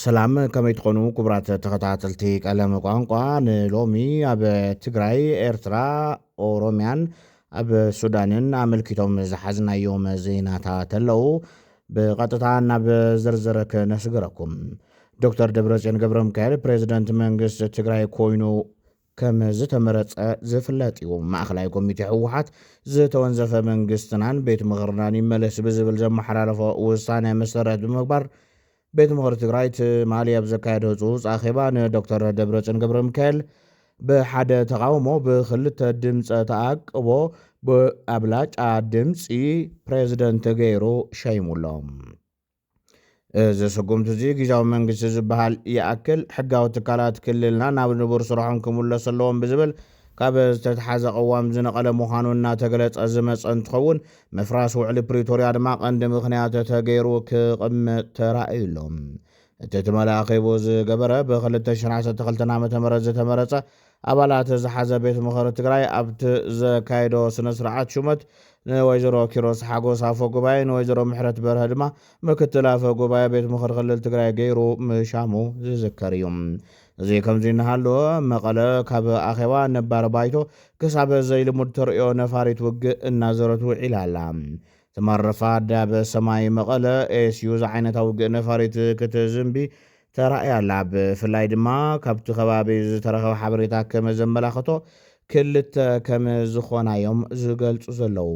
ሰላም ከመይ ትኾኑ ክቡራት ተኸታተልቲ ቀለም ቋንቋ ንሎሚ ኣብ ትግራይ ኤርትራ ኦሮምያን ኣብ ሱዳንን ኣመልኪቶም ዝሓዝናዮም ዜናታት ኣለዉ ብቐጥታ ናብ ዝርዝር ክነስግረኩም ዶክተር ደብረፅዮን ገብረ ሚካኤል ፕሬዚደንት መንግስቲ ትግራይ ኮይኑ ከም ዝተመረጸ ዝፍለጥ'ዩ። ማእከላይ ኮሚቴ ህወሓት፣ ዝተወንዘፈ መንግስትናን ቤት ምኽርናን ይመለስ ብዝብል ዘመሓላለፎ ውሳነ መሰረት ብምግባር፣ ቤት ምኽሪ ትግራይ ትማሊ ኣብ ዘካየዶ ህጹጽ ኣኼባ ንዶክተር ደብረጽዮን ገብረሚካኤል ብሓደ ተቓውሞ ብክልተ ድምጸ ተኣቅቦ ብኣብላጫ ድምጺ ፕሬዝደንት ገይሩ ሸይሙ'ሎ። እዚ ስጉምቲ እዚ ግዝያዊ መንግስቲ ዝበሃል ይኣክል ሕጋዊ ትካላት ክልልና ናብ ንቡር ስርሖም ክምለሱ ኣለዎም ብዝብል ካብ ዝተትሓዘ ቅዋም ዝነቐለ ምዃኑ እናተገለፀ ዝመፀ እንትኸውን ምፍራስ ውዕሊ ፕሪቶርያ ድማ ቀንዲ ምኽንያት ተገይሩ ክቕመጥ ተራእዩ ኣሎ። እቲ ትማሊ ኣኼቡ ዝገበረ ብ2012 ዓ.ም ዝተመረፀ ኣባላት ዝሓዘ ቤት ምኸሪ ትግራይ ኣብቲ ዘካየዶ ስነ ስርዓት ሹመት ንወይዘሮ ኪሮስ ሓጎስ ኣፈ ጉባኤ ንወይዘሮ ምሕረት በርሀ ድማ ምክትል ኣፈ ጉባኤ ቤት ምኽሪ ክልል ትግራይ ገይሩ ምሻሙ ዝዝከር እዩ። እዚ ከምዚ እናሃለወ መቐለ ካብ ኣኼባ ነባር ባይቶ ክሳብ ዘይልሙድ ተርእዮ ነፋሪት ውግእ እናዞረት ውዒላ ኣላ። ተማረፋ ኣዳብ ሰማይ መቐለ ኤስዩ ዝዓይነታ ውግእ ነፋሪት ክትዝንቢ ተራእያ ኣላ። ብፍላይ ድማ ካብቲ ከባቢ ዝተረኸበ ሓበሬታ ከመዘመላኸቶ ክልተ ከም ዝኾና እዮም ዝገልጹ ዘለዉ።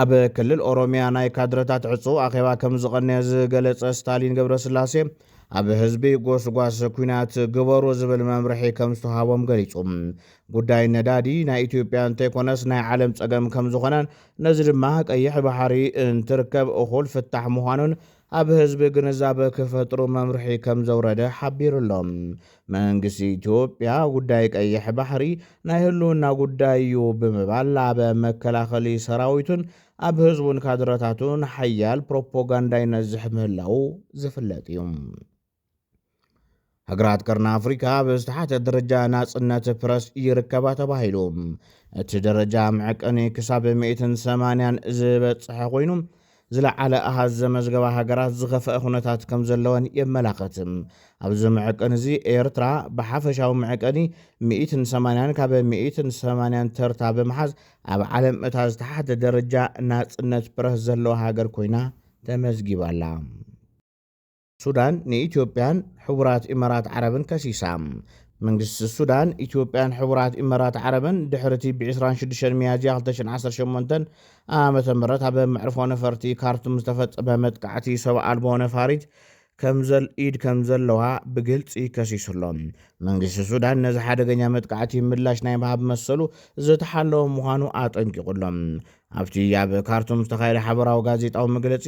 ኣብ ክልል ኦሮሚያ ናይ ካድረታት ዕጹው ኣኼባ ከም ዝቐነየ ዝገለጸ ስታሊን ገብረስላሴ ኣብ ህዝቢ ጎስጓስ ኩናት ግበሩ ዝብል መምርሒ ከም ዝተውሃቦም ገሊጹ። ጉዳይ ነዳዲ ናይ ኢትዮጵያ እንተይኮነስ ናይ ዓለም ጸገም ከም ዝኾነን ነዚ ድማ ቀይሕ ባሕሪ እንትርከብ እኹል ፍታሕ ምዃኑን ኣብ ህዝቢ ግንዛበ ክፈጥሩ መምርሒ ከምዘውረደ ሓቢሩ'ሎ። መንግስቲ ኢትዮጵያ ጉዳይ ቀይሕ ባሕሪ ናይ ህልውና ጉዳይ'ዩ ብምባል ኣብ መከላኸሊ ሰራዊቱን ኣብ ህዝቡን ካድረታቱን ሓያል ፕሮፖጋንዳ ይነዝሕ ምህላዉ ዝፍለጥ'ዩ። ሃገራት ቀርኒ ኣፍሪካ ኣብ ዝተሓተ ደረጃ ናፅነት ፕረስ ይርከባ ተባሂሉ እቲ ደረጃ መዕቀኒ ክሳብ 180 ዝበፅሐ ኮይኑ ዝለዓለ ኣሃዝ ዘመዝገባ ሃገራት ዝኸፍአ ኩነታት ከም ዘለወን የመላኸት። ኣብዚ መዕቀኒ እዚ ኤርትራ ብሓፈሻዊ መዕቀኒ 180 ካብ 180 ተርታ ብምሓዝ ኣብ ዓለም እታ ዝተሓተ ደረጃ ናፅነት ፕረስ ዘለዋ ሃገር ኮይና ተመዝጊባላ። ሱዳን ንኢትዮጵያን ሕቡራት ኢመራት ዓረብን ከሲሳ። መንግስቲ ሱዳን፣ ኢትዮጵያን ሕቡራት ኢመራት ዓረብን ድሕሪ'ቲ ብ ዕስራን ሽዱሽተን ሚያዝያ ክልተ ሽሕን ዓሰርተ ሸሞንተን ዓመተ ምህረት ኣብ መዕርፎ ነፈርቲ ካርቱም ዝተፈጸመ መጥቃዕቲ ሰብ ኣልቦ ነፋሪት ከምዘል ኢድ ከምዘለዋ ብግልጺ ከሲሱ ኣሎ። መንግስቲ ሱዳን ነዚ ሓደገኛ መጥቃዕቲ ምላሽ ናይ ምሃብ መሰሉ ዝተሓለወ ምዃኑ ኣጠንቂቑ ኣሎ። ኣብቲ ኣብ ካርቱም ዝተኻየደ ሓበራዊ ጋዜጣዊ መግለጺ፣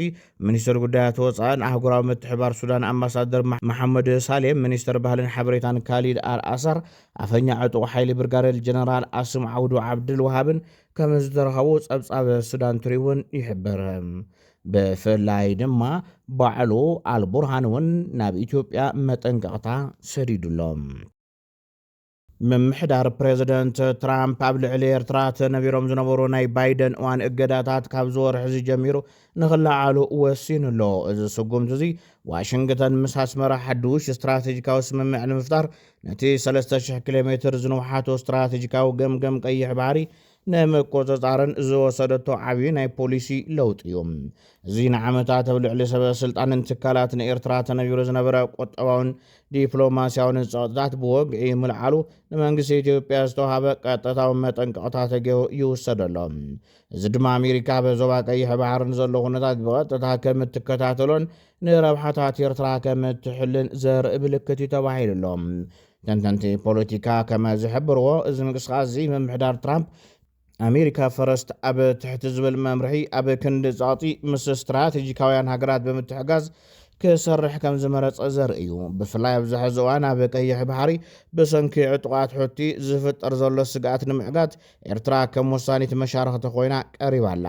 ሚኒስተር ጉዳያት ወጻእን ኣህጉራዊ ምትሕብባር ሱዳን ኣምባሳደር መሓመድ ሳሌም፣ ሚኒስተር ባህልን ሓበሬታን ካሊድ ኣል ኣሳር፣ ኣፈኛ ዕጡቕ ሓይሊ ብርጋደል ጀነራል ኣስም ዓውዱ ዓብደል ወሃብን ከምዝተረኸቡ ጸብጻብ ሱዳን ትሪቡን ይሕብር። ብፍላይ ድማ ባዕሉ ኣልቡርሃን'ውን ናብ ኢትዮጵያ መጠንቀቕታ ሰዲዱ'ሎ። ምምሕዳር ፕሬዝደንት ትራምፕ ኣብ ልዕሊ ኤርትራ ተነቢሮም ዝነበሩ ናይ ባይደን እዋን እገዳታት ካብዚ ወርሒ'ዚ ጀሚሩ ንኽለዓሉ ወሲኑ ኣሎ። እዚ ስጉምቲ'ዚ፣ ዋሽንግተን ምስ ኣስመራ ሓዱሽ ስትራተጂካዊ ስምምዕ ንምፍጣር ነቲ ሰለስተ ሽሕ ኪሎ ሜትር ዝንውሓቱ ስትራተጂካዊ ገምገም ቀይሕ ባሕሪ ንምቁጽጻርን ዝወሰደቶ ዓብዪ ናይ ፖሊሲ ለውጢ እዩ። እዚ ንዓመታት ኣብ ልዕሊ ሰበ ስልጣንን ትካላትን ኤርትራ ተነቢሩ ዝነበረ ቁጠባውን ዲፕሎማስያውን ጸቕጥታት ብወግዒ ምልዓሉ ንመንግስቲ ኢትዮጵያ ዝተውሃበ ቀጥታዊ መጠንቀቕታ ተገይሩ ይውሰድ ኣሎ። እዚ ድማ ኣሜሪካ ኣብ ዞባ ቀይሕ ባሕሪ ንዘሎ ኩነታት ብቐጥታ ከም እትከታተሎን ንረብሓታት ኤርትራ ከም እትሕልን ዘርኢ ምልክት እዩ ተባሂሉ ኣሎ። ተንተንቲ ፖለቲካ ከመ ዝሕብርዎ እዚ ምንቅስቓስ እዚ ምምሕዳር ትራምፕ ኣሜሪካ ፈረስት ኣብ ትሕቲ ዝብል መምርሒ ኣብ ክንዲ ጸቕጢ ምስ ስትራቴጂካውያን ሃገራት ብምትሕጋዝ ክሰርሕ ከም ዝመረጸ ዘርኢ እዩ። ብፍላይ ኣብዚ ሕዚ እዋን ኣብ ቀይሕ ባሕሪ ብሰንኪ ዕጡቓት ሑቲ ዝፍጠር ዘሎ ስግኣት ንምዕጋት ኤርትራ ከም ወሳኒት መሻርኽቲ ኮይና ቀሪባ ኣላ።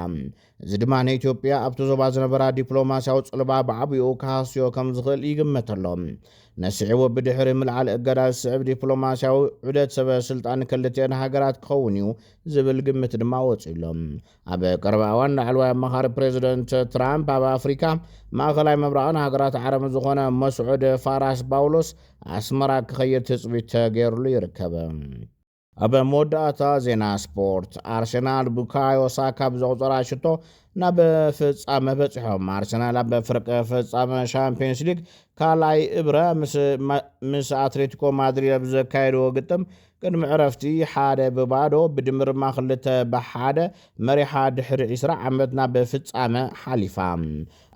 እዚ ድማ ንኢትዮጵያ ኣብቲ ዞባ ዝነበራ ዲፕሎማስያዊ ጽልዋ ብዓብኡ ክሃስዮ ከም ዝኽእል ይግመት ኣሎ። ነሲዕቡ ብድሕሪ ምልዓል እገዳ ዝስዕብ ዲፕሎማስያዊ ዑደት ሰበ ስልጣን ክልቲኤን ሃገራት ክኸውን እዩ ዝብል ግምት ድማ ወጺኡ ኣሎ። ኣብ ቀረባ እዋን ላዕለዋይ ኣማኻሪ ፕሬዝደንት ትራምፕ ኣብ ኣፍሪካ፣ ማእኸላይ ምብራቕን ሃገራት ዓረብን ዝኾነ መስዑድ ፋራስ ባውሎስ ኣስመራ ክኸይድ ትጽቢት ተገይርሉ ይርከብ። ኣብ መወዳእታ ዜና ስፖርት፣ ኣርሰናል ቡካዮ ሳካ ብዘቑጸራ ሽቶ ናብ ፍጻመ በጺሖም። ኣርሰናል ኣብ ፍርቂ ፍጻመ ሻምፕዮንስ ሊግ ካልኣይ እብረ ምስ ኣትሌቲኮ ማድሪድ ኣብ ዘካየድዎ ግጥም ቅድሚ ዕረፍቲ ሓደ ብባዶ ብድምርማ ክልተ ብሓደ መሪሓ ድሕሪ ዕስራ ዓመት ናብ ፍጻመ ሓሊፋ።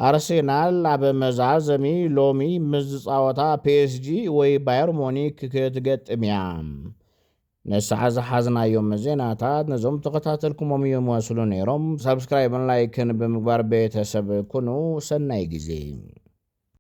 ኣርሴናል ኣብ መዛዘሚ ሎሚ ምስ ዝጻወታ ፒኤስጂ ወይ ባየር ሙኒክ ክትገጥም እያ። ንሳዕ ዝሓዝናዮም ዜናታት ነዞም ተኸታተልኩሞም ይመስሉ ነይሮም። ሳብስክራይብን ላይክን ብምግባር ቤተሰብ ኩኑ። ሰናይ ግዜ።